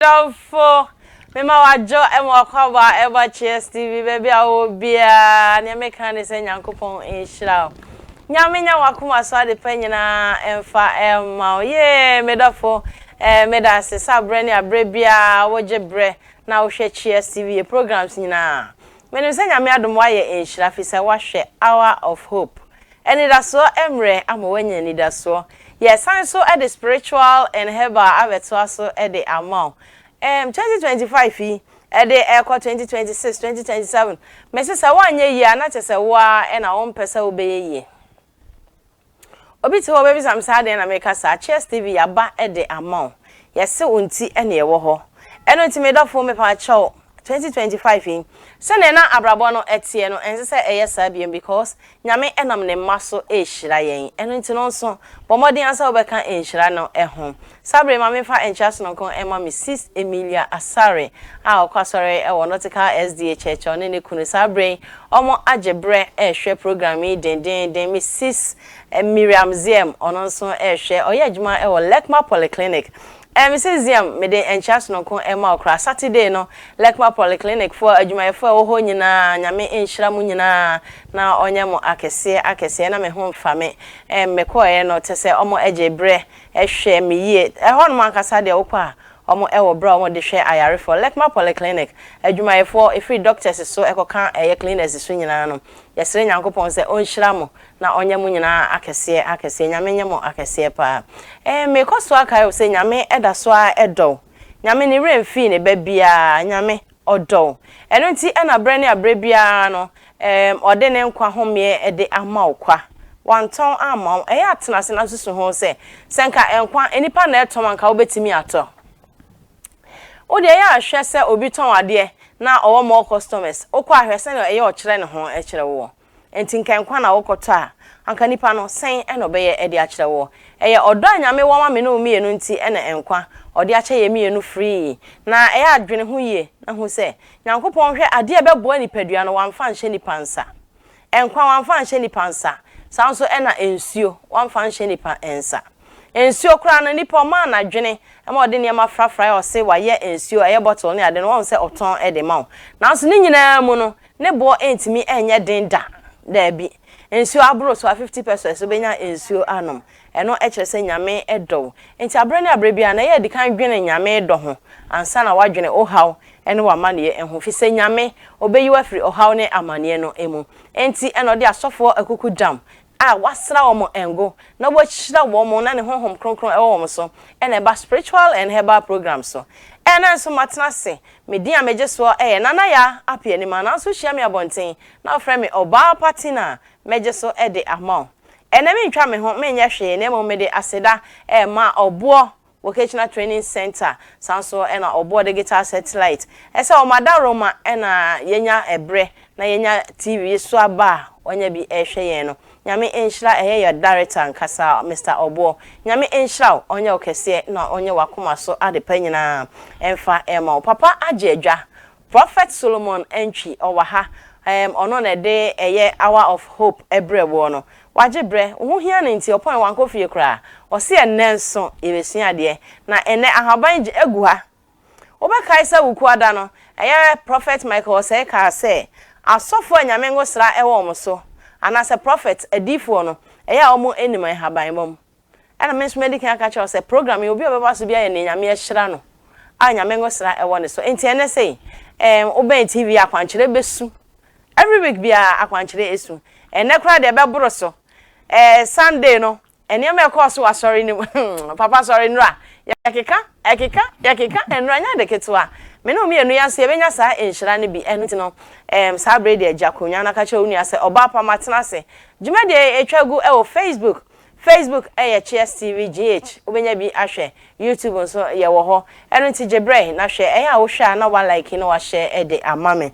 Adɔfo, mema wɔadwo ma wɔakɔbɔ a ɛbɔ Cheers TV baabi a wɔwɔ biara. Nea meka ne sɛ Nyankopɔn nhyira wo. Nyame nya w'akoma so adepa nyinaa mfa mma wo. Yee, me dɔfo, eh, meda ase sɛ aberɛ ne aberɛ biara wogye berɛ na wohwɛ Cheers TV, yɛ programs nyinaa. Menim sɛ Nyame adom woayɛ nhyira fisɛ woahwɛ Hour of Hope. Anidasoɔ mmerɛ ama woanya anidasoɔ. Yɛsan nso de spiritual and herbal abɛtoa so de ama wo. Erm twenty twenty five yi, ɛde rekɔ twenty twenty six, twenty twenty seven, mese sɛ woanyɛ yie a na kyerɛ sɛ wo ara na wompɛ sɛ wobɛyɛ yie. Obi te hɔ ɔbɛbisa me sɛ adɛn na meka saa, Cheers TV yɛaba de ama wo. Yɛse wo nti na yɛwɔ hɔ. Ɛno nti me dɔfo mepaakyɛw twenty twenty five yi sɛdeɛ na abrabɔ no ɛteɛ no ɛnsɛ sɛ ɛyɛ saa biom because Nyame ɛnam ne mma so ɛrehyira yɛn ɛno nti no nso bɔ mmɔden ara sɛ wobɛka nhyira no ho saa bere yi ma menfa nkyea sononko ɛma me sis Emilia Asare a ɔkɔ asɔre ɛwɔ Nautica SDA Church a ɔne ne kunu saa bere yi ɔmo agye berɛ ɛrehwɛ program yi dendeenden me sis Miriam Ziem ɔno nso ɛrehwɛ ɔyɛ adwuma ɛwɔ Lekma Polyclinic Eh mese Ziam mede nkyea sononko rema wo koraa Saturday no Lekma Polyclinic foɔ adwumayɛfoɔ a ɛwɔ hɔ nyinaa Nyame nhyira mo nyinaa na ɔnyɛ mo akɛseɛ akɛseɛ na me ho mfa me eh mekɔeɛ no tesɛ ɔmo gye berɛ hwɛ me yie ɛhɔ nom ankasa deɛ wokɔ a ɔmo wɔ berɛ a ɔmo de hwɛ ayarefoɔ Lekma Polyclinic adwumayɛfoɔ ɛfiri doctors so ɛkɔka ɛyɛ cleaners so nyinaa no yɛsrɛ Nyankopɔn sɛ ɔnhyira mo Na ɔnyɛ mo nyinaa akɛseɛ akɛseɛ. Nyame nyɛ mo akɛseɛ paa. Eeh mekɔ so akae wo sɛ Nyame da so ara dɔ wo. Nyame ne werɛ mfii ne ba biara. Nyame ɔdɔ wo. Ɛno nti na berɛ ne aberɛ biara no eeh ɔde ne nkwa homeɛ de ama wo kwa. Wantɔn amma wo. Ɛyɛ a tena ase na susu ho sɛ, sɛ nka nkwa nnipa na ɛtɔn a nka wobɛtumi atɔ? Wo deɛ yɛ a hwɛ sɛ obi tɔn adeɛ na ɔwɔ more customers. Wokɔ a hwɛ sɛdeɛ ɛyɛ ɔkyerɛ ne ho kyerɛ woɔ. Enti nka nkwa na wokɔtɔ a, anka nipa no, sɛn na ɔbɛyɛ de akyerɛ woɔ? Ɛyɛ ɔdɔ a Nyame wɔ ma me ne wo mmienu nti na nkwa a ɔde akyɛ yɛn mmienu free. Na ɛyɛ a dwene ho yie na hu sɛ, Nyankopɔn hwɛ adeɛ a ɛbɛboa nipadua no, wamfa anhyɛ nipa nsa. Nkwa, wamfa anhyɛ nipa nsa. Saa nso na nsuo, wamfa anhyɛ nipa nsa. Nsuo koraa no, nipa ɔmaa no adwene ma ɔde nneɛma frafraeɛ, ɔse wayɛ nsuo, ɛyɛ bottle ne ade no, wahu sɛ ɔtɔn de ma wo. Nanso ne nyinaa mu no, Ne boɔ antumi anyɛ den da. Daabi. Nsuo aboro so a fifty pesos wobɛnya nsuo anom. Ɛno kyerɛ sɛ Nyame dɔ wo. Enti aberɛ ne aberɛ biara no ɛyɛ a di kan dwene Nyame dɔ ho ansa na woadwene wo haw ne w'amaneɛ ho. Firi sɛ Nyame, Ɔbɛyi wo afiri ɔhaw ne amaneɛ no mu. Enti na ɔde asɔfoɔ akuku dam a wɔasra wɔn ngo na wɔahyira wɔn na ne honhom kronkron wɔ wɔn so na ɛba spiritual and herbal program so Ɛna nso matena ase me din a megye soɔ yɛ Nana Yaa Appiah Nimah nanso wohyia me abɔnten na wofrɛ me ɔbaa pa tin a mɛgye so de ama wo Ɛnɛ mentwa me ho menyɛ hwee na mmom mede aseda rema ɔboɔ Wɔkɛkyina Training Centre san nso na ɔboɔ Digital Satellite sɛ wɔn adaworo ma na yɛnya ɛberɛ na yɛnya TV yi so aba a wɔnya bi rehwɛ yɛn no. Nyame nhyira ɛyɛ yɛ Director ankasa Mister Ɔboɔ. Nyame nhyira wo, ɔnyɛ wo kɛseɛ na ɔnyɛ w'akoma so adepa nyinaa mfa mma wo. Papa agye adwa, Prophet Solomon Antwi ɔwɔ ha ɛɛm ɔno na ɛde ɛyɛ hour of hope ɛbrɛ woɔ no. Wagye brɛ, wo ho hia no nti ɔpɔn wankɔ fie koraa. Ɔse ɛnnɛ nso yɛbɛsua adeɛ. Na ɛnnɛ ahaban gye agu ha. Wobɛkae sɛ Wukuwa da no, ɛyɛ Prophet Michael Osei kaa sɛ asɔfoɔ a Nyame ngosra ɛwɔ wɔn so, anaasɛ Prophet, adiyifoɔ, no, ɛyɛ a wɔn nnim nhaban mmom. Ɛna me nso madi kan aka akyerɛ wo sɛ program yi obi a ɔbɛba so biara yɛ nea Nyame ahyira no a Nyame nwosra ɛwɔ ne so. Enti ɛnnɛ sei ɛɛm wobɛn TV yi a akwankyerɛ bɛsu. Every week biara akwankyerɛ ɛsu. Ɛnnɛ koraa deɛ ɛbɛboro so. Ɛɛ Sunday no nneɛma a ɛkɔɔ so wɔ asɔre no mu hmm papa asɔre nnora yɛkeka ɛkeka yɛkeka nnora nyɛ ade ketewa. Me ne wo mmienu yɛn nso yɛbɛnya saa nhyira no bi. Ɛno nti no ɛɛm saa berɛ yi deɛ gya kronwa no ka kyerɛ wo nua sɛ ɔbaa pa matena ase. Dwumadie yi ɛtwa gu ɛwɔ Facebook Facebook yɛ Cheers TV GH, wobɛnya bi ahwɛ. YouTube nso yɛwɔ hɔ. Ɛno nti gye berɛ na hwɛ. Ɛyɛ a wohwɛ a na woalike na woahyɛ de ama me.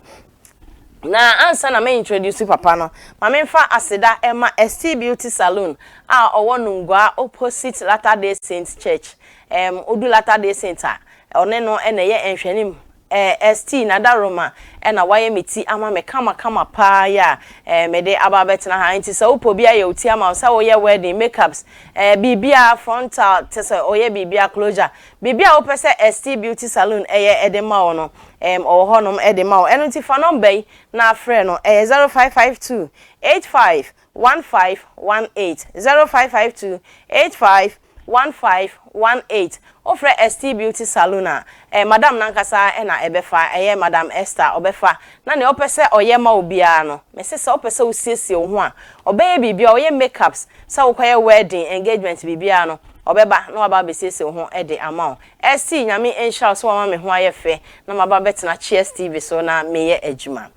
Na ansa na mɛ introduce papa no, ma memfa aseda mma Estee Beauty Saloon a ɔwɔ Nungua opposite Latter-day Saint Church. Ɛɛm, wodu Latter-day Saint a, ɔne no na ɛyɛ nhwɛanim Eh Esthie na Daroma eh na wayɛ me ti ama me kama kama paa yi a eh mede aba abɛtena ha nti sɛ wopɛ obi ayɛ wo ti ama wo sɛ woyɛ wedding, makeups eh biribiara frontal tesɛ ɔyɛ biribiara closure biribiara a wopɛ sɛ Esthie Beauty Saloon ɛyɛ de ma wo no eh ɔwɔ hɔ nom de ma wo ɛno nti fa nɔmba yi na frɛ no ɛyɛ zero five five two eight five one five one eight zero five five two eight five One five one eight wofrɛ Esthie Beauty Saloon a, ɛyɛ Madam no ankasa na ɛbɛfa, ɛyɛ Madam Esther ɔbɛfa, na nea ɔpɛ sɛ ɔyɛ ma wo biara no, mese sɛ wopɛ sɛ wosiesie wo ho a, ɔbɛyɛ biribiara, ɔyɛ makeups, sɛ wokɔyɛ wedding, engagement, biribiara no, ɔbɛba na waba abɛsiesie wo ho de ama wo. Esthie, Nyame nhyira wo sɛ woama me ho ayɛ fɛ na maba abɛtena Cheers TV so na meyɛ adwuma.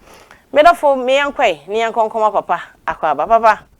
Me dɔfo, me yɛnkɔ ɛ, ne yɛnkɔ nkɔma papa akwaaba. Papa!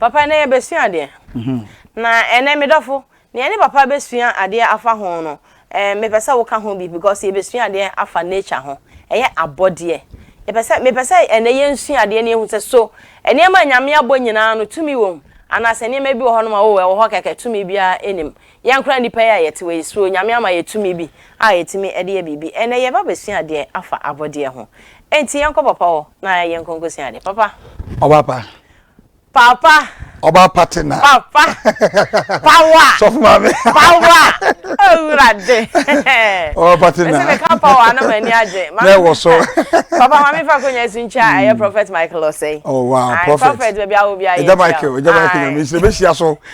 Papa nnɛ yɛbɛsua adeɛ. Na ɛnnɛ me dɔfo, deɛ yɛne papa bɛsua adeɛ afa ho no, eh, mepɛ sɛ woka ho bi because yɛbɛsua adeɛ afa nature ho. Ɛyɛ abɔdeɛ. Yɛpɛ sɛ, mepɛ sɛ ɛnnɛ yɛnsua adeɛ na yɛhu sɛ so nneɛma a Nyame abɔ nyinaa no tumi wɔ mu anaasɛ nneɛma bi wɔ hɔnom a oh, ɛwɔ hɔ kɛkɛ, tumi biara nni mu. Yɛn koraa nnipa yi a yɛte hɔ yi, so Onyame ama yɛn tumi bi a yɛtumi de yɛ biribi? Ɛnnɛ yɛreba abɛsua adeɛ afa abɔdeɛ ho. Enti yɛnkɔ Papa hɔ na yɛnkɔ nkɔsua adeɛ. Papa. Ɔba pa. Papa. Ɔba pa te na. Papa. Pawa. Sɔfo maame. Pawa. Ewurade. Ɔba pa te na. Ɛsɛ meka pawa na ma ni agye. Na ɛwɔ so. Papa maame fa konya esu nkyia ɛyɛ hmm. Prophet Michael Osei. Oh wow, Prophet. Prophet baabi awo bi ayɛ. Ɛda Michael, ɛda Michael na mi nhyira bɛhyia so.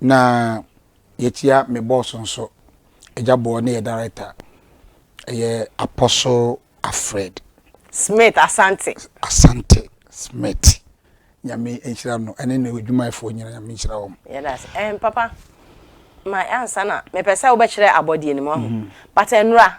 na yɛkyia me boss nso agya boɔ ne yɛ director ɛyɛ apostle afred smith asante asante smith nyame nhyira no ɛne ne adwumayɛfoɔ nyina nyame nhyira wɔm yɛdase ɛn papa ma ansa na mepɛ sɛ wobɛkyerɛ abɔdeɛ no mu ahu mm-hmm. but ɛnora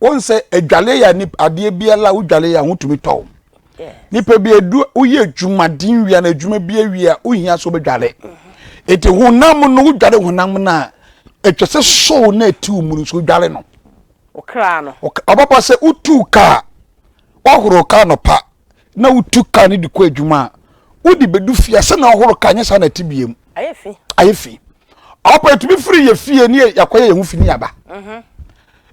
wɔn sɛ adwale yɛ nip adeɛ biara a wodwale yɛ a wotumi tɔ o nipa bi edu woyɛ adwumaden wia na adwuma bi awia wohia so bɛdwale eti honam no wodwale honam no a atwa sɛ sow na eti wo mu no so wodwale no ɔkra no ɔbɛbɔ sɛ wotu kaa wɔhoro kaa no pa na wotu kaa no de kɔ adwuma a wode bɛdu fie sɛ na ɔhoro kaa nyɛ saa na ɛte biem ayɛ fi ayɛ fi ɔpɛ tumi firi yɛ fie ne yɛakɔyɛ yɛn ho fi ne yaba mhm.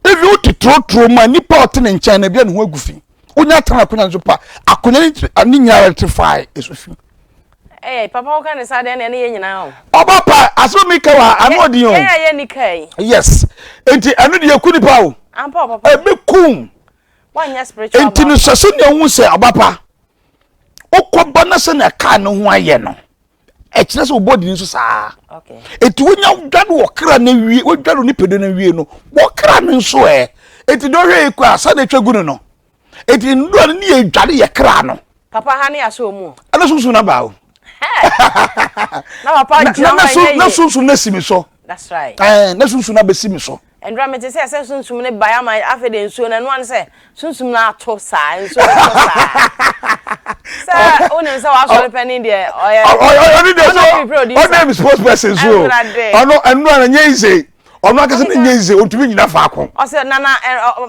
ebi wo te torotoro mu a nipa a ɔte ne nkyɛn no ebi a ne ho agu fi wonya atena akonnwa no so pa akonnwa ne ti- a, ne nyinaa te fae ɛso fi ɛɛ eh, papa woka ne saa deɛ ɛne yɛ nyinaa o ɔba pa asɛm mi ka wa ano ɔdin o yɛn a yɛ nika yi yes nti ɛno deɛ ɛku nipa o ampa o papa ebi kum wanyɛ spiritual nti no baako sɛ sɛnea wohu sɛ ɔba pa wokɔba no sɛnea kaa no ho ayɛ no ɛkyerɛ sɛ wobɔ dini so saa ɛti wonya wodware wɔ kra no awie wodware wo nipadua no awie no wɔkra no nso ɛ ɛti deɛ ɔhwɛ ɛkɔ a sɛdeɛ ɛtwa gu no no ɛti nnura no ne yɛ dware yɛ kra no papa ha ne asɛ ɔmu ɛna sunsun na baa o na papa gyina hɔ ɛyɛ yie na sunsun na si mi so that's right ɛɛ na sunsun na bɛ si mi so Ɛnora mete sɛ sɛ sunsum no bae ama afei de nsuo no ɛnoa no sɛ sunsum no ato saa nsuo no tɔ saa sɛ wonim sɛ wasɔre panin deɛ ɔyɛ ɔne deɛ so ɔne am sports person so ɔno ɛnoa no nyɛ yize ɔno akɛsɛ no nyɛ yize ɔntumi nyina faako ɔsɛ nana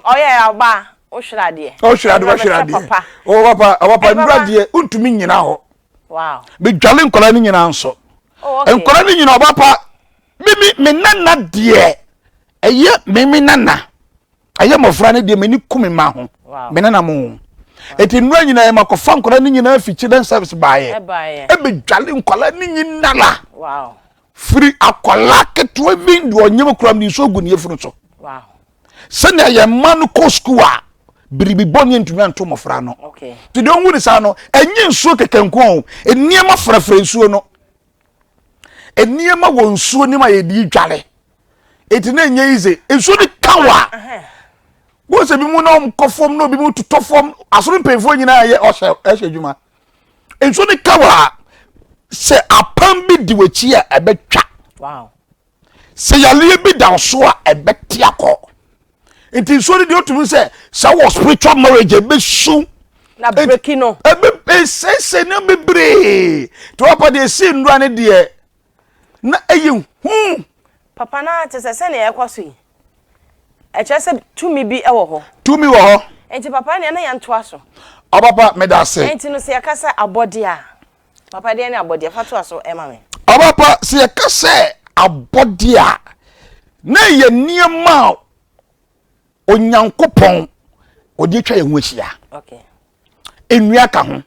ɔyɛ ɔba wohwere adeɛ ɔhwere adeɛ ɔhwere adeɛ ɔwɔ papa ɔwɔ papa ɛnora deɛ ɔntumi nyina hɔ medwale nkwadaa no nyinaa nso oh, nkwadaa no nyinaa ɔba pa mimi me nana deɛ ɛyɛ mimi nana ɛyɛ mmɔfra no deɛ m'ani ku me ma ho me nana mo ho ɛti nnura nyinaa yɛma kɔfa nkwadaa no nyinaa fi children service baayɛ ɛbɛdwale nkwadaa no nyinala firi akwadaa ketewa bi deɛ ɔnyɛm kura mu de nsuo gu ne yɛfunu so sɛnea yɛn mma no kɔ sukuu a biribi bɔne ntumi anto mmɔfra no nti deɛ ɔhu ne saa no ɛnyɛ nsuo kɛkɛ nko o nneɛma frɛfrɛ nsuo no nneɛma wɔ nsuo no ma yɛdi dware ɛti na ɛnyɛ yize nsuo no ka wɔ a wo sɛ bi mu na ɔmkɔ fam na obi mu totɔ fam asoro mpanyinfoɔ nyinaa yɛ ɔhyɛ ɛhyɛ adwuma nsuo no ka wɔ a sɛ apam bi di w'akyi a ɛbɛtwa Sɛ yareɛ bi da so a ɛbɛte akɔ. Nti nsuo no deɛ otumi sɛ sɛ wɔ spiritual marriage ɛbɛsu. Na breki no. Ɛbɛ ɛsɛsɛ na bebree. Nti wɔpɛ deɛ esi nnura no deɛ na ɛyɛ hu. Papa na te sɛ sɛnea ɛkɔ so yi. Ɛkyerɛ sɛ tumi bi wɔ hɔ. Tumi wɔ hɔ. Nti papa nea na yɛntoa so. Ɔpapa meda ase. Nti no sɛ yɛka sɛ abɔde a. Papa deɛ ne abɔdeɛ fa to aso ɛma me. Ɔba pa sɛ yɛka sɛ abɔdeɛ a na ɛyɛ nneɛma a Onyankopɔn ɔde atwa yɛn ho ahyia. Nnua ka ho,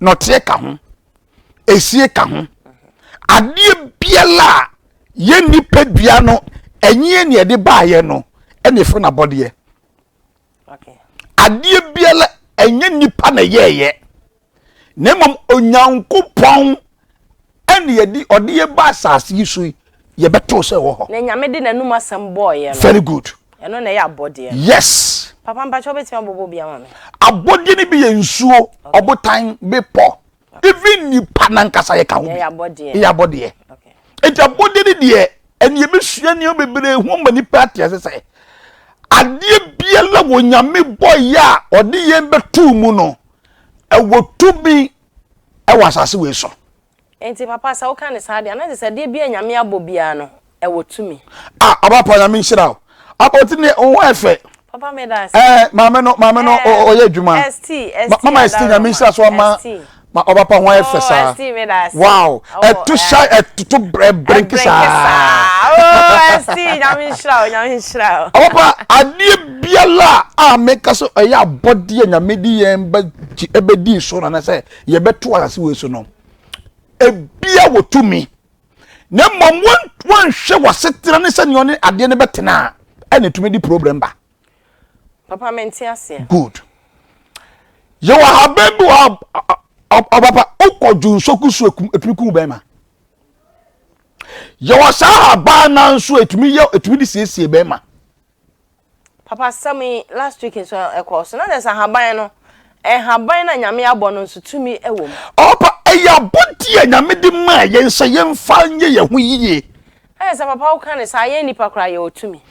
nɔteɛ ka ho, esie ka ho. Adeɛ biara a yɛn nipadua no ɛnyeɛ ne ɛde baayɛ no ɛna ɛfiri no abɔdeɛ. adeɛ biara ɛnyɛ nipa na yɛɛyɛ na mmom onyankopɔn ɛne yɛde ɔde yɛ ba asase yi so yi yɛbɛto sɛ wɔ hɔ na nyame de n'anum asɛm bɔɔyɛ no very good ɛno na ɛyɛ abɔdeɛ no yes papa mpakyɛ wobɛtumi abɔbɔ bi ama me abɔdeɛ no bi yɛ nsuo ɔbotan bepɔ even nipa nankasa yɛ ka ho bi yɛ abɔdeɛ nti abɔdeɛ ne deɛ ɛne yɛbɛsua nneɛma bebree ho ma nipa ate ase sɛ adeɛ biara wɔ nyame bɔyɛ a ɔde yɛn bɛtoo mu no ɛwɔ tumi ɛwɔ asase wei so nti papa sɛ woka ne saa deɛ anagye sɛ adeɛ bi a nyame abɔ biara no ɛwɔ tumi. Ah, ɔba pa nyame nhyira wo. Abɔti ne wo ho ɛfɛ. Papa me da ase. Eh, maame no, maame no ɔyɛ adwuma. ST, ST. Mama ST nyame nhyira so ama. Ma ɔba pa ho ayɛ fɛ saa. Oh, ST me da ase. Wow, ɛto shy ɛtoto brenki saa. Oh, ST nyame nhyira wo, nyame nhyira wo. Ɔba pa adeɛ biala a meka so ɛyɛ abɔdeɛ nyame di yɛn bɛ ɛbɛdi so na na sɛ yɛbɛto asase wei so no. Ebia wɔ tumi. na mmom wɔnhwɛ w'asetena ne sɛnea ɔne adeɛ no bɛtena a ɛna ɛtumi de problem ba papa mente aseɛ good yɛwɔ ahaban bi wɔ ɔpapa wokɔ dwo nsɔku so ɛtumi ku bɛrima yɛwɔ saa ahaban nanso ɛtumi yɛ ɛtumi de siesie bɛrima Papa asɛm yi last week nso ɛkɔɔ so na kyerɛ sɛ ahaban no nhaban no a Nyame abɔ no nso tumi wɔ mu. Ɔpa ɛyɛ abɔdeɛ a Nyame de maa yɛn sɛ yɛmfa nyɛ yɛn ho yie. Ɛyɛ sɛ papa woka no saa yɛn nnipa koraa yɛwɔ tumi.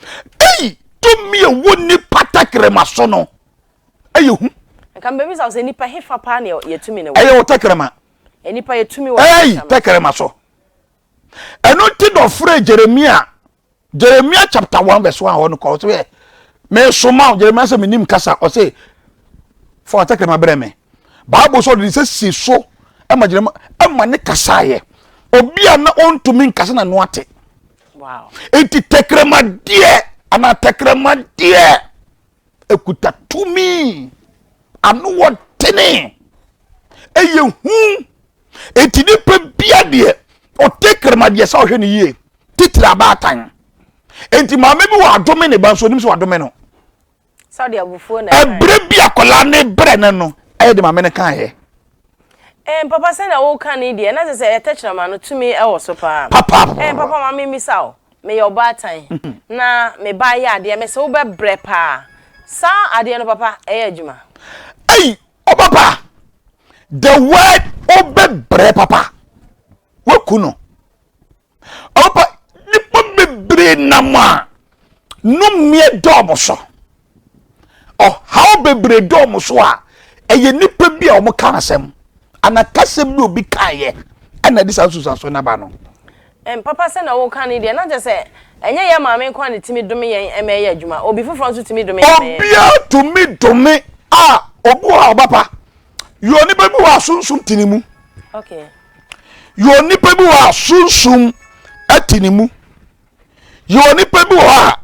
Ei tumi a ɛwɔ nnipa tɛkrɛma so no ɛyɛ hu. Nka mebɛbisa wo sɛ nnipa hefa paa na yɛ tumi no wɔ? Ɛyɛ wɔ tɛkrɛma. Nnipa yɛ tumi wɔ tɛkrɛma. Ei tɛkrɛma so. Ɛno nti na ɔfrɛɛ Jeremia Jeremia chapter one verse one hɔ no kɔ ɔsɛ yɛ mesoma wo Jeremia sɛ menim kasa ɔsɛ fa ɔtɛkrɛma brɛ me Bible sɛ ɔde ne sɛ si so ɛma Jeremia ɛma ne kasa yɛ obi a na ɔntumi nkasa na no ate nti tɛkrɛmadeɛ anaa tɛkrɛmadeɛ ɛkuta tumi ano wɔ tene ɛyɛ hu enti nipa bia deɛ ɔte karama deɛ sɛ ɔhwɛ no yie titiri abaatan enti maame bi wɔ adome ne ba nso onim sɛ wadome no ɛberɛ bi akwadaa ne brɛ no no ɛyɛ de maame no kan yɛ Eh, papa sɛ na woka ne deɛ na sɛ sɛ ɛyɛ tɛkyerɛma no tumi ɛwɔ so paa papa eh, papa ma memisa o meyɛ ɔbaatan na me ba yɛ adeɛ mɛsɛ wobɛbrɛ paa saa adeɛ no papa ɛyɛ adwuma ei ɔba pa the word ɔbɛbrɛ papa waku no ɔba pa nipa bebree nam a nomeɛ dɔɔmo so ɔhaw bebree dɔɔmo so a ɛyɛ nipa bi a wɔn ka asɛm anakasɛm bi obi kaeɛ ɛna de saa nsusuaso naba no Ɛn papa sɛ na woka ne deɛ na kyɛ sɛ ɛnyɛ yɛn maame nko a na ɛtumi dome yɛn ɛma ɛyɛ adwuma obi foforɔ nso tumi dome yɛn ma ɛyɛ adwuma. Obiara tumi dome a obi wɔ hɔ a ɔba pa yɛ onipa bi wɔ hɔ a sunsum te ne mu okay yɛ onipa bi wɔ hɔ a sunsum te ne mu yɛ onipa bi wɔ hɔ a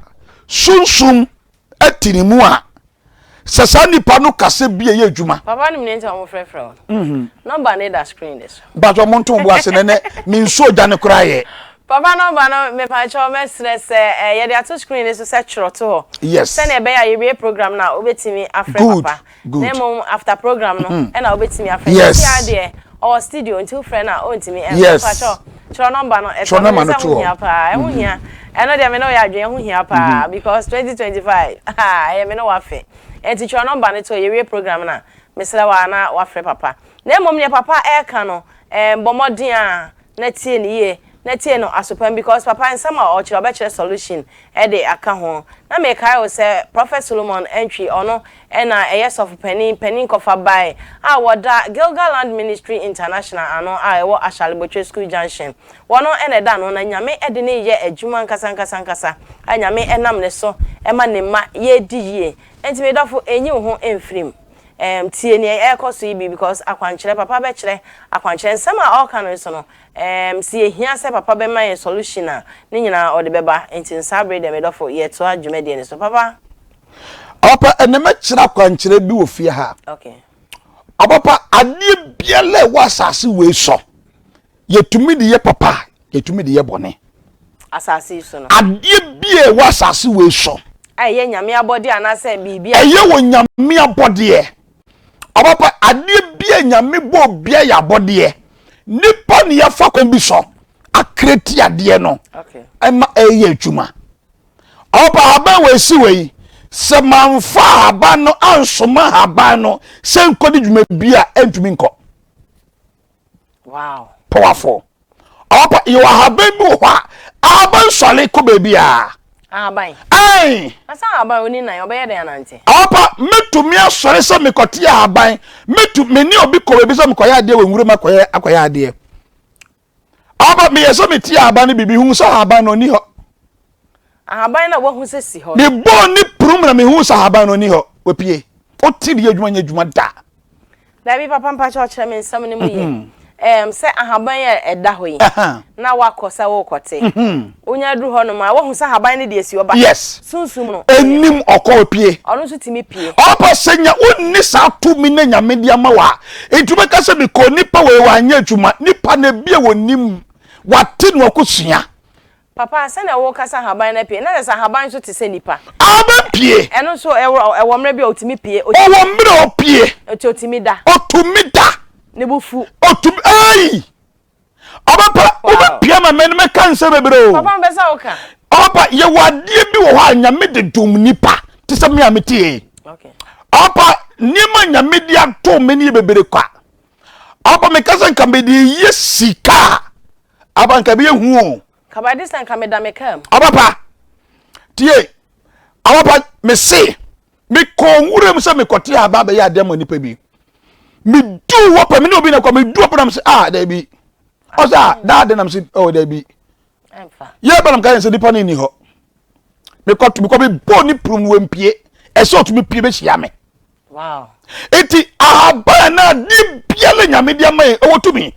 sunsum te ne mu a sɛ saa nipa no kasa bi a ɛyɛ adwuma. Papa no mene nti ɔmo frɛfrɛ wo no. Mhm. Nɔmba no da screen ne so. Mpatsɔ ɔmo nto bo ase nɛnɛ me nsuo gya no koraa yɛ. Papa nɔmba no mepatsɔ mɛsrɛ sɛ eh, yɛde ato screen ne so sɛ twerɛ to hɔ. Yes. Sɛnea ɛbɛyɛ a yɛwie program no a wobɛtumi afrɛ good, papa. Good. Na mmom after program no mhm. ɛna wobɛtumi afrɛ. Yes. Nti adeɛ ɔwɔ studio nti wofrɛ no a ɔntumi ɛmfa. Yes. Mpatsɔ. Twerɛ number no. Twerɛ number no to hɔ. Ɛho hia paa. Ɛho hia. Ɛno deɛ me ne wo yɛ adwene. Ɛho hia paa because twenty twenty five haa ɛyɛ me ne wo afe. Ɛnti twerɛ number no to hɔ. Yɛwie program no a, mesrɛ wo ara na wafrɛ papa. Na mmom deɛ papa ɛreka no, ɛɛm bɔ mmɔden ara na tie no yie. Na tie no aso pa mu because papa nsɛm a ɔkyerɛ ɔbɛkyerɛ solution ɛde aka ho. Na mekae wo sɛ Prophet Solomon Antwi ɔno Ɛna ɛyɛ sɔfopanin panin kɔfa bae a wɔda Gilgaland Ministry International ano a ɛwɔ Ashalebotwe School Junction. Wɔno na ɛda ano na Nyame de no reyɛ adwuma ankasa ankasa ankasa a Nyame nam ne so ma ne mma yɛredi yie. Enti me dɔfo nyi wo ho mfiri mu. Ɛɛm tie nea ɛrekɔ so yi bi because akwankyerɛ papa bɛkyerɛ akwankyerɛ. Nsɛm a ɔreka no nso no ɛɛm sɛ yɛhia sɛ papa bɛma yɛn solution a ne nyinaa ɔde bɛba. Enti no saa bere deɛ me dɔfo yɛtoa dwumadie no so papa. Ɔpapa ɛnna mɛkyerɛ akwankyerɛ bi wɔ fie ha. Ɔpapa adeɛ biara ɛwɔ asase wei so yɛtumi de yɛ papa yɛtumi de yɛ bɔne. Asase yi so no. Adeɛ biara ɛwɔ asase wei so. Ɛyɛ nyame abɔdeɛ anaasɛ biribi. Ɛyɛ wɔ nyame abɔdeɛ. Ɔpapa adeɛ biara nyame bɔ biara yɛ abɔdeɛ. Nipa ne yɛfa kwan bi so akreti adeɛ no ɛma ɛyɛ adwuma. Ɔpa ahaban wɔ esi wɔ yi. Sɛ manfa ahaban no ansoma ahaban no sɛ nkɔdi dwumadie a ɛntumi nkɔ. Wow. Powerful. Ɔpa yɛ ahaban bi wɔ hɔ a ahaban sɔre kɔ baabi a. Ahaban. Ɛn. Asa ahaban oni nan ɔbɛyɛ dɛn anante. Ɔpa metumi asɔre sɛ mekɔte ahaban metu me ne obi kɔ baabi sɛ mekɔyɛ adeɛ wɔ nwuram akɔyɛ akɔyɛ adeɛ. Aba, meyɛ sɛ metie ahaban no bi, mehuu sɛ ahaban no nni hɔ. Ahaban na wahu sɛ si hɔ no. Mebɔɔ ne prum na mehuu sɛ ahaban no nni hɔ, wapue. Ɔte de yɛ adwuma nyɛ adwuma da. Daabi papa mpakyɛ ɔkyerɛ me nsɛm no mu yɛ. Mhm. Ɛm, sɛ ahaban a ɛda hɔ yi, na wakɔ sɛ wokɔte. Mhm. Onya duru hɔnom a, wahu sɛ haban no de asi hɔ ba. Yes. Sunsum no. Anim, ɔkɔ, ɔpue. Ɔno nso tumi pue. Ɔba sɛ nya, wonni saa tumi no a Nyame de ama wo a, nti wobɛka sɛ mekɔɔ nipa wɔ yɛ wanyɛ adwuma. Nipa no ebi a wɔnim, wate na wakɔsua. Papa, sɛnea woka sɛ haban no apue, na kyerɛ sɛ haban nso te sɛ nipa. Haban pue. Ɛno nso ɛwɔ, ɛwɔ mmerɛ bi a ɔtumi pue. Ɔtumi. Ɔwɔ mmerɛ a ɔpue. Nti ɔtumi da. Ɔtumi da. Ne bo fu. Ɔtumi, eii! Ɔbɛpa wobɛpia ma mɛne mɛka nsɛm bebree o. Papa mpɛ sɛ woka. Ɔbɛpa yɛwɔ adeɛ bi wɔ hɔ a nyame de dom nipa te sɛ me a mete yɛ yi. Ɔbɛpa nneɛma nyame de ato me ne yɛ bebree kwa. Ɔbɛpa meka sɛ nka mede yɛ sika a aba nka bɛyɛ hu o. Kaba de sɛ nka meda me kaa mu. Ɔbɛpa tie ɔbɛpa me se mekɔɔ nwuram sɛ mekɔte a ba bɛyɛ adeɛ ma nipa bi meduu hɔ pɛ me ne obi na kɔ meduu hɔ pɛ nam sɛ a ah, daabi ɔsɛ a ah, daade nam sɛ ɔwɔ oh, daabi yɛ ba nam ka yɛn sɛ nipa no nni hɔ mekɔto mekɔ mebɔɔ ne prum no wampie ɛsɛ ɔtumi pie bɛhyia me eti ahaban na ne biara nyame de ama yɛ ɛwɔ tumi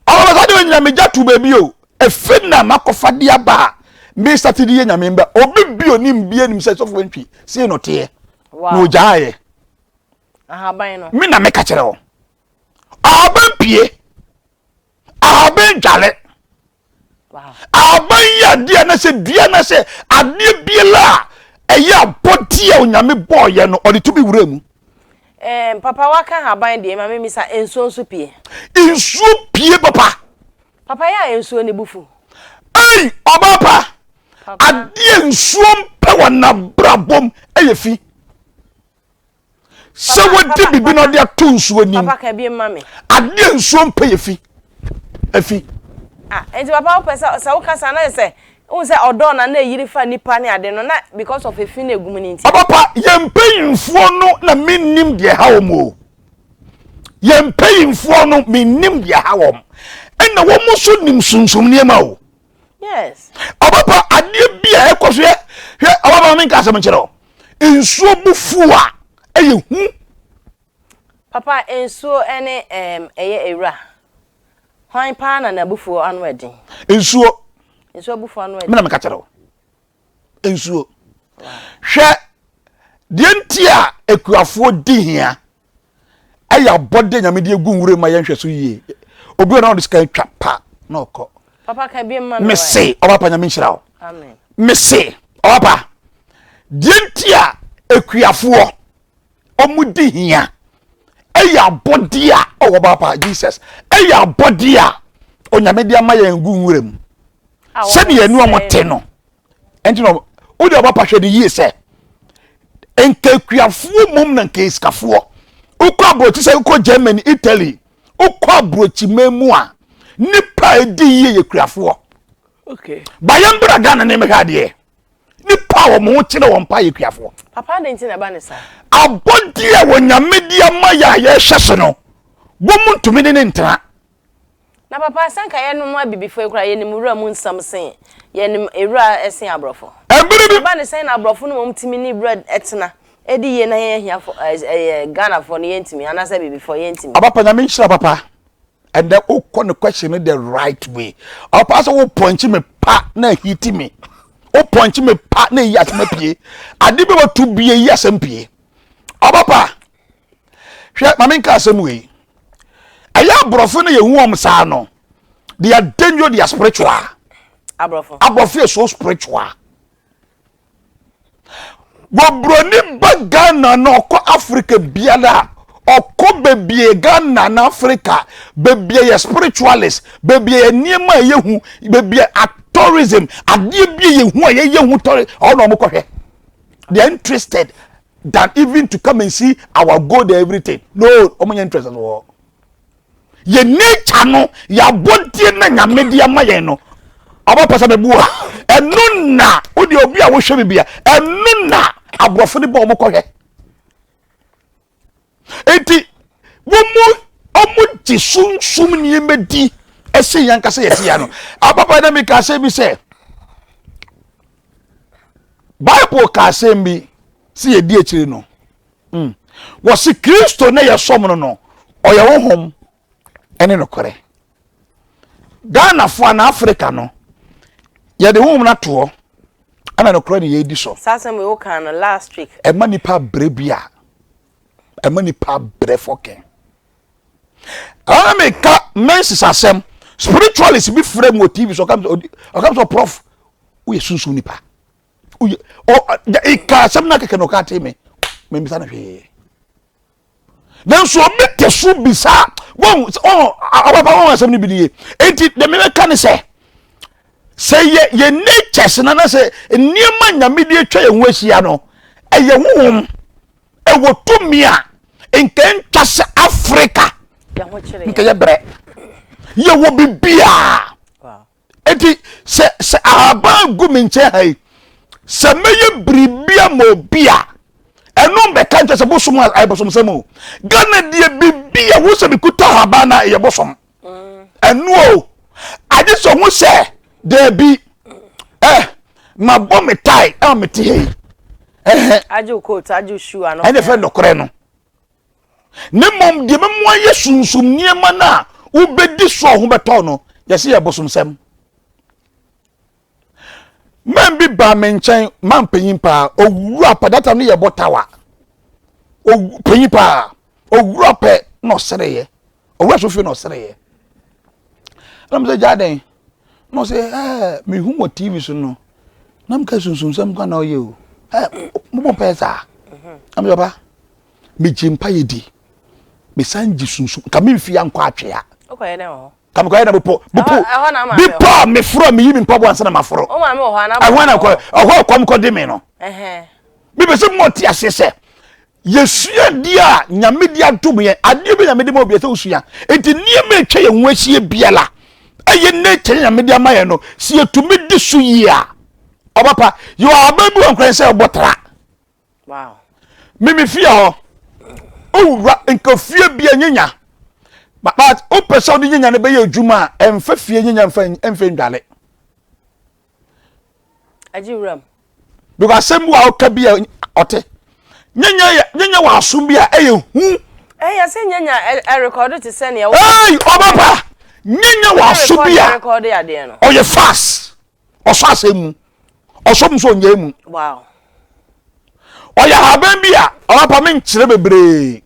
ɔlɔbasa de onyame gya to baabi o efi na makɔfa de aba a me sati de yɛ nyame mba obi bi onim bi anim sɛ sɔfo ntwi sei no teɛ na ogyaayɛ ahaban no me na meka kyerɛ wo ahaban pie ahaban dwale Ahaban yɛ adeɛ anaasɛ dua anaasɛ adeɛ biara a ɛyɛ abɔdeɛ a onyame bɔɔyɛ no ɔde tumi wura mu. Eh, papa waka ahaban deɛ ma memisa nsuo nso pie. Nsuo pie papa. Papa yɛ a nsuo ne bufu. Ei ɔbaa pa adeɛ nsuo mpɛ wɔ n'abrabom ɛyɛ fi. sɛ wadi biribi na ɔde ato nsuo nim adeɛ nsuo mpɛ yɛ fi afi. Ah, nti papa wopɛ sɛ sɛ woka saa na yɛ sɛ wohu sɛ ɔdɔɔ na na ɛyiri fa nipa ne ade no na because of efi na egum ne nti. ɔpapa yɛn mpanyinfoɔ no na mennim deɛ ha wɔn o yɛn mpanyinfoɔ no mennim deɛ ha wɔn ɛna wɔn nso nim sunsum nneɛma o. yes ɔbɛpa adeɛ bi a ɛkɔ so yɛ hwɛ ɔba maame nka asɛm nkyerɛ o nsuo bu fu a ɛyɛ hu papa nsuo ɛne ɛm ɛyɛ ewura hwan paa na n'abufuo ano ɛden nsuo nsuo abufuo ano ɛden mena meka kyerɛ o nsuo. Hwɛ deɛ nti a akuafoɔ di hia ɛyɛ abɔde nyame de egu nwura ma yɛnhwɛ so yie obi wɔ na ɔde sika twa pa na ɔkɔ papa ka bi mma mese ɔpapa nyame nhyira wo mese ɔpapa deɛ nti a akuafoɔ wɔn di hia ɛyɛ abɔdeɛ a ɔwɔ baapa jesus ɛyɛ abɔdeɛ a onyame de ama yɛn gu nwura mu sɛdeɛ ɛnu wɔn te no ɛnti na wode ɔbaapa hwɛ no yie sɛ nkakuafoɔ mmom na nkaisikafoɔ wokɔ aburokyi sɛ wokɔ germany italy wokɔ aburokyi man mu a nipa a ɛdi yie yɛ kuafoɔ bayɛ mbra ghana ne mehwɛ adeɛ nipa a wɔn ho kyerɛ wɔn pa yɛ kuafoɔ. papa adi nti na ɛba ne saa. abɔdeɛ a wɔnyame di ama yɛ a yɛhwɛ so no wɔn mu ntumi ne ne ntena. na papa sɛ nka yɛnom abibifoɔ yi koraa yɛnim wura mu nsɛm sen yɛnim ewura sen aborɔfo. ɛbere bi. ɛba ne sɛn na aborɔfo no wɔn tumi ne wura ɛtena ɛdi yie na yɛn ahiafoɔ ɛyɛ ghanafoɔ no yɛntumi anaasɛ abibifoɔ yɛntumi. abapa nyame nhyira papa. and then o kɔ ne question no the right way ɔpa sɛ o pɔnkye me pa na ahiti me o pɔnkye me pa na eyi asɛm apue ade bi wɔ to bie yi asɛm pue ɔba pa hwɛ maame nka asɛm wei ɛyɛ aborɔfo no yɛ hu wɔn saa no they are dangerous they are spiritual aborɔfo aborɔfo yɛ so spiritual. Wɔ broni ba Ghana na ɔkɔ Africa biara a, ɔkɔ bebie Ghana na Africa, bebie yɛ spiritualist, bebie yɛ nneɛma a yɛhu, bebie a tourism, adeɛ bi a yɛhu a yɛyɛ hu tourism, ɔwɔ na wɔkɔhwɛ. They are interested than even to come and see our gold and everything. No, wɔn nyɛ interested wɔ hɔ. Yɛ nature no, yɛ abɔdeɛ na nyame de ama yɛn no. Ɔba pasa bɛ bu a, ɛno na wo deɛ obi a wohwɛ bibi a, ɛno na aborɔfo de bɔ ɔmo kɔhwɛ. Eti wɔn mu ɔmo gye sunsum nneɛma di ɛsɛ yɛn ankasa yɛsi ya no. Ababa na mi ka asɛm bi sɛ, Bible ka asɛm bi sɛ yɛdi akyire no. Mm. Wɔsi Kristo ne yɛsɔm no no, ɔyɛ honhom ɛne nokorɛ. Ghanafoɔ anaa Africa no, yɛde honhom no ato hɔ ɛna nokorɛ ne yɛdi so. Saa asɛm wei wokaa no last week. Ɛma nipa brɛ bi a, ɛma nipa brɛ fɔkɛn. Ɛna meka mensis asɛm, spiritualist bi frɛ mu wɔ TV so, ɔkam sɛ prof, woyɛ sunsum nipa. ɔka asɛm no kɛkɛ na ɔka te me memmisa no hwee nanso obi te so bisa wɔn wɔn awapa wɔn asɛm no bi nie eti deɛ mebɛka ne sɛ sɛ yɛ yɛ natures na na sɛ nneɛma nyame de atwa yɛn ho ahyia no ɛyɛ honhom ɛwɔ tumi a nka ntwa sɛ afrika nka yɛ brɛ yɛwɔ biribiaa Enti sɛ sɛ ahaban gu me nkyɛn ha yi, sɛ mɛyɛ biribi ama obi a, ɛno mbɛka nkyɛ sɛ bosom a ɛyɛ bosomsɛm o. Ghana deɛ biribi yɛ ho sɛ mekuta ahaban no a ɛyɛ bosom. Ɛno o. Agye sɛ ho sɛ daabi ɛ mabɔ me tae a mete ha yi. Ɛhɛ. Agye wo coat, agye wo shoe ano. Ɛne fɛ nɔkorɛ no. na mmom deɛ ɛbɛmu ayɛ sunsum nneɛma no a wobɛdi soɔ ho bɛtɔ no yɛse yɛ bosomsɛm man bi baa me nkyɛn man panyin paa owura pa data no yɛbɔ tawa panyin paa owura pɛ na ɔsɛrɛyɛ ɔwura so fie na ɔsereeɛ ɛna mo sɛ gyaa dɛn na ɔsɛ ɛɛ mehu wɔ tv so no na mo ka sunsunsɛm kwan na ɔyɛ o ɛɛ mo bɔ mpaeɛ saa ɛna mo sɛ papa megye mpaeɛ di mesan gye sunsun ka me nfi ankɔ atwea ka mekɔyɛ na bepɔ bepɔ bepɔ a meforo a meyi me mpaboa ansa na maforo ɛhɔ na kɔ ɛhɔ ɛkɔm kɔ de me no mepɛ sɛ mo te aseɛ sɛ Yɛsua deɛ a Nyame de adom yɛn. Adeɛ bi Nyame de ma obi ɛsɛ wosua. Enti nneɛma ɛtwa yɛn ho ahyia biara ɛyɛ nature Nyame de ama yɛn no, sɛ yɛtumi di so yie a, ɔba pa. Yɛwɔ ahaban bi wɔ nkran sɛ ɛbɔ tra. Mimi fie hɔ, owura nka fie bi ɛnyenya. But wopɛ sɛ wode nyenya no bɛyɛ adwuma a, ɛmfa fie nyenya mfa ndwale. Agye wuram. Because asɛm bi a ɔka bi a ɔte. Nyanya yɛ nyanya wɔ asom bi a ɛyɛ hu. Ɛyɛ eh, sɛ nyanya ɛrekɔdo te sɛ nea. Ɛy ɔba pa nyanya wɔ asom bi a ɔyɛ fast ɔsɔ asɛm mu ɔsɔ mu so ɔnyɛ mu. Wow. Ɔyɛ ahaban bi a ɔba pa me nkyerɛ bebree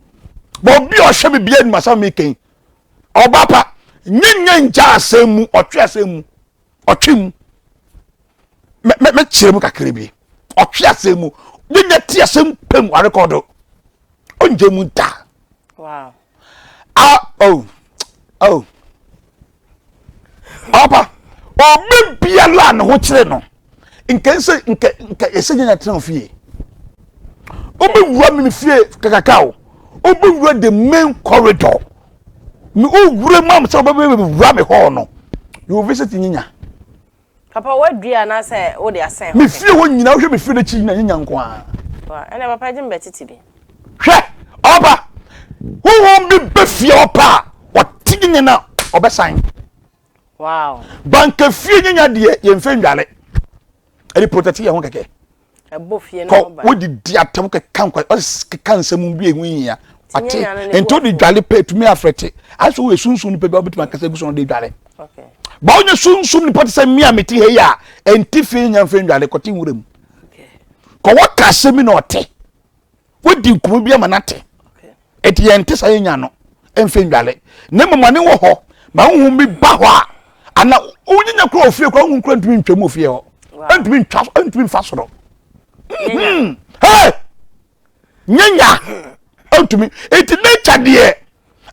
bɔ obi a ɔhwɛ biribi anim asɛm mi kɛn ɔba pa nyanya ngya asɛm mu ɔtwe asɛm mu. ɔtwe mu mɛkyerɛ mu kakra bi ɔtwe asɛm mu deda ti asɛm pɛm arekɔdo ɔngye mu da wow. ah, oh, oh. ɔpa ɔbɛ biara a ne ho kyerɛ no nka nsɛ nka nka ɛsɛ nyɛ nyatena ofie ɔbɛwura me fie kakaka o ɔbɛwura the main corridor Me wo wura mu am sɛ wobɛwura me hɔɔ no. You will visit nyinya. Papa wadua anaasɛ wode asɛn hɔ? Me fie hɔ nyina wohwɛ me fie no akyi nyina nyinya nko ara. Wa ɛnna papa gye me bɛtete bi. Hwɛ ɔba honhom bi bɛ fie hɔ paa ɔte nyinya na ɔbɛsan. Wow. Banka fie nyinya deɛ yɛmfɛ ndwale. Ɛde protect yɛn ho kɛkɛ. kɔ wodi di atɛm keka nkwa ɔsi keka nsɛm bi ehu hia ɔte nti ɔde dwale pɛ etumi afrɛte aso wɔ esunsun nipa bi a ɔbɛtumi akasa egu so na ɔde dwale ba ɔnyɛ sunsun nipa te sɛ mmea mi ti ha yi a ɛnti fi nya nfɛn dwale kɔte nwura mu kɔ wɔ ka asɛm bi na ɔte. wodi nkɔmɔ bi ama no ate ɛti yɛn te sa yɛn nya no mfe ndwale na mmom ane wɔ hɔ ma huhu bi ba hɔ a ana wonyinya kura ofie kura huhu kura ntumi ntwa mu ofie hɔ ntumi ntwa ntumi nfa soro hmm. hey nyanya ntumi eti nature deɛ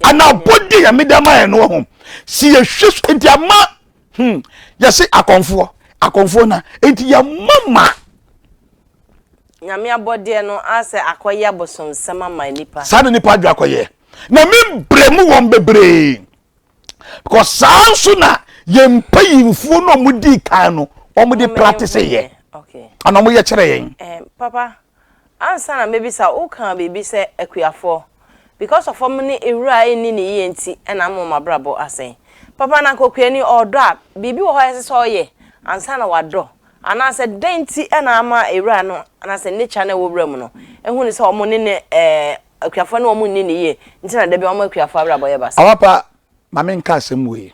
ana abɔde yɛ medama yɛ no ho si yɛ hwɛ nti ama hmm yɛse akɔnfoɔ akɔnfoɔ na enti yɛ mama nyame abɔdeɛ no asɛ akɔyɛ abosomsɛm ama nipa saa na nipa adwa akɔyɛ na membrɛ mu wɔn bebree kɔ saa nso na yɛn mpayimfoɔ no ɔmo di kan no ɔmo de practice yɛ ana ɔmo yɛ kyerɛ yɛn eh, papa Ansa na mɛbisa, wokaa biribi sɛ akuafoɔ. Because of wɔn ne ewura a ɛnni no yie nti na ama wɔn abrabɔ asɛe. Papa no anka okuani ɔɔdɔ a, biribi wɔ hɔ a ɛsɛ sɛ ɔyɛ ansa na wadɔ. Anaasɛ dɛn nti na ama ewura no anaasɛ nature no a ɛwɔ wura mu no ahu no sɛ wɔn ne no ɛɛ akuafoɔ ne wɔn nni no yie nti na da biara wɔn akuafoɔ abrabɔ yɛ basaa. Amapa, ma menka asɛm wei.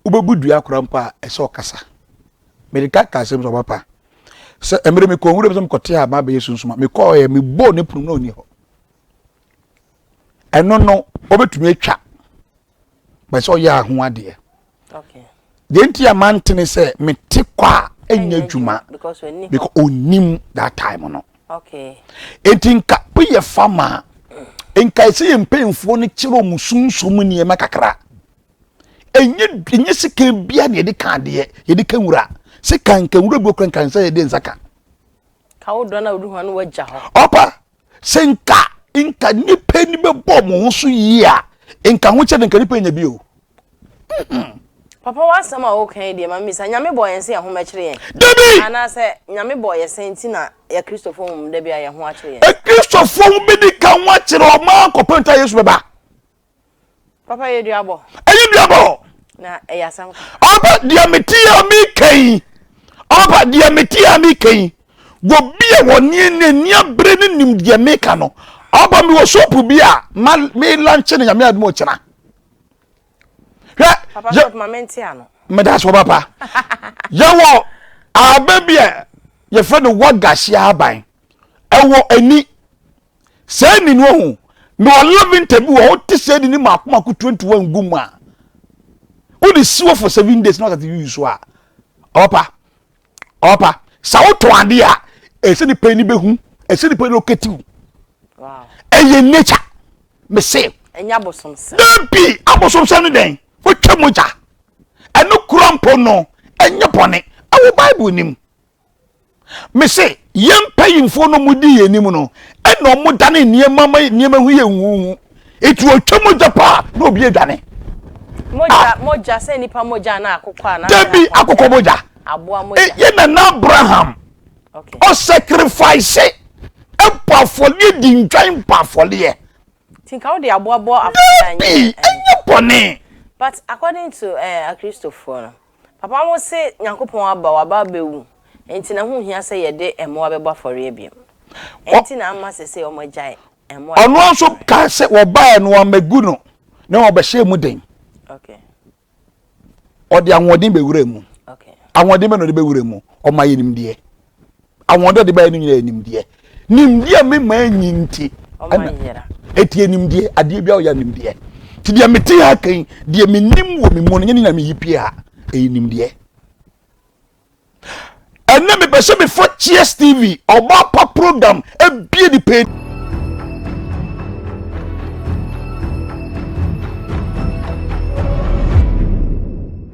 Wobɛbu dua koraa mpo a, ɛsɛ ɔkasa. Mede ka ka asɛm sɛ ɔba pa. Sɛ mmerɛ mekɔ nwura mu sɛ mekɔte a ma bɛyɛ sunsum a, mekɔɔyɛ mebɔɔ ne pono mu na ɔnni hɔ. Ɛno no, wɔbɛtumi atwa. Bɛ sɛ ɔyɛ aho adeɛ. Deɛ nti a mantene sɛ mete kɔ a ɛnyɛ adwuma because ɔnim that time no. Enti nka bi yɛ fa ma a, nka ɛsɛ yɛ mpanyinfoɔ no kyerɛ wɔn sunsum nneɛma kakra. Ɛnyɛ ɛnyɛ sika bia na yɛde ka adeɛ, yɛde ka nwura. Sika nka nwura bi okura nka nsa yɛde nsa ka. Ka wo dɔn a wode hɔn wagya hɔ. Ɔpa, sɛ nka nka nipa ni bɛbɔ wɔn ho so yie a, nka ho kyɛ de nka nipa nya bi o. Papa w'asɛm a woka yi deɛ ma misa, Nyame bɔɔ yɛn sɛ yɛn ho mɛkyere yɛn? Dabi! Anaasɛ Nyame bɔɔ yɛn sɛ nti na yɛ Kristofo ho mmom da bi a yɛn ho akyere yɛn? Kristofo ho bɛdi ka ho akyere wɔn maa kɔpɛ nta Yesu bɛba. Papa yɛ duabɔ. Ɛyɛ duabɔ. Na ɛyɛ asɛm ka. Ɔba deɛ mete a meka yi, ɔba deɛ mete a meka yi, wɔ bi a wɔ ne ne ne abere ne nim deɛ meka no, ɔba mi wɔ sopu bi a ma me lanche no nyame adum ɔkyena. hwɛ meda so papa yɛwɔ aba bi a yɛfrɛ no wagahye aban ɛwɔ ani saa ni no ho na ɔlaventa bi wɔ wote sɛ ni ne maako maako tuantua ngu mu a wode siwɔ for seven days na wasate yuyi so a ɔpa ɔpa sɛ wotɔn adeɛ a ɛsɛ nipa ni bɛhu ɛsɛ nipa ni ɔkɛti wo ɛyɛ nature mese dabi abosomsɛm ne dɛn wotwa mu gya ɛno kura mpo no ɛnyɛ bɔne ɛwɔ bible nim mese Yɛn mpanyimfoɔ no wɔn di yɛn anim no ɛna wɔn dane nneɛma ma nneɛma ho yɛ huhu eti otwa mogya paa na obi adwane. Mogya ah. mogya sɛ nipa mogya na akokɔ a na. Dabi akokɔ mogya. Aboa eh, mogya. Yɛ na na Abraham. Okay. Ɔ sacrifice ɛbɔ afɔleɛ di ntwan bɔ afɔleɛ. Tinka wo de aboa bɔ afɔleɛ. Dabi ɛnyɛ bɔne. But according to uh, eh, Akristofoɔ no. Papa wo se Nyankopɔn aba waba abɛwu enti na ho hia sɛ yɛde mmoa bɛbɔ afɔreɛ biom enti na ama sese wɔn agyae mmoa yɛbɔ afɔreɛ. Ɔno nso kaa sɛ wɔbaɛ no wɔammɛgu no na wɔbɛhyɛɛ mu den. Okay. Ɔde ahoɔden bɛwura mu. Okay. Ahoɔden bɛ na ɔde bɛwura mu ɔma yɛnim deɛ. ahoɔden a ɔde baeɛ no nyinaa yɛ nimdeɛ nimdeɛ a mema anyi nti ɛna ɛtie nimdeɛ adeɛ biara ɔyɛ nimdeɛ nti deɛ mete ha kan deɛ menim wɔ me mu no nyɛ ne nyina meyi pie ha ɛyɛ nimdeɛ ɛnɛ mepɛ sɛ mefa cheers tv ɔba pa program abie ne pɛ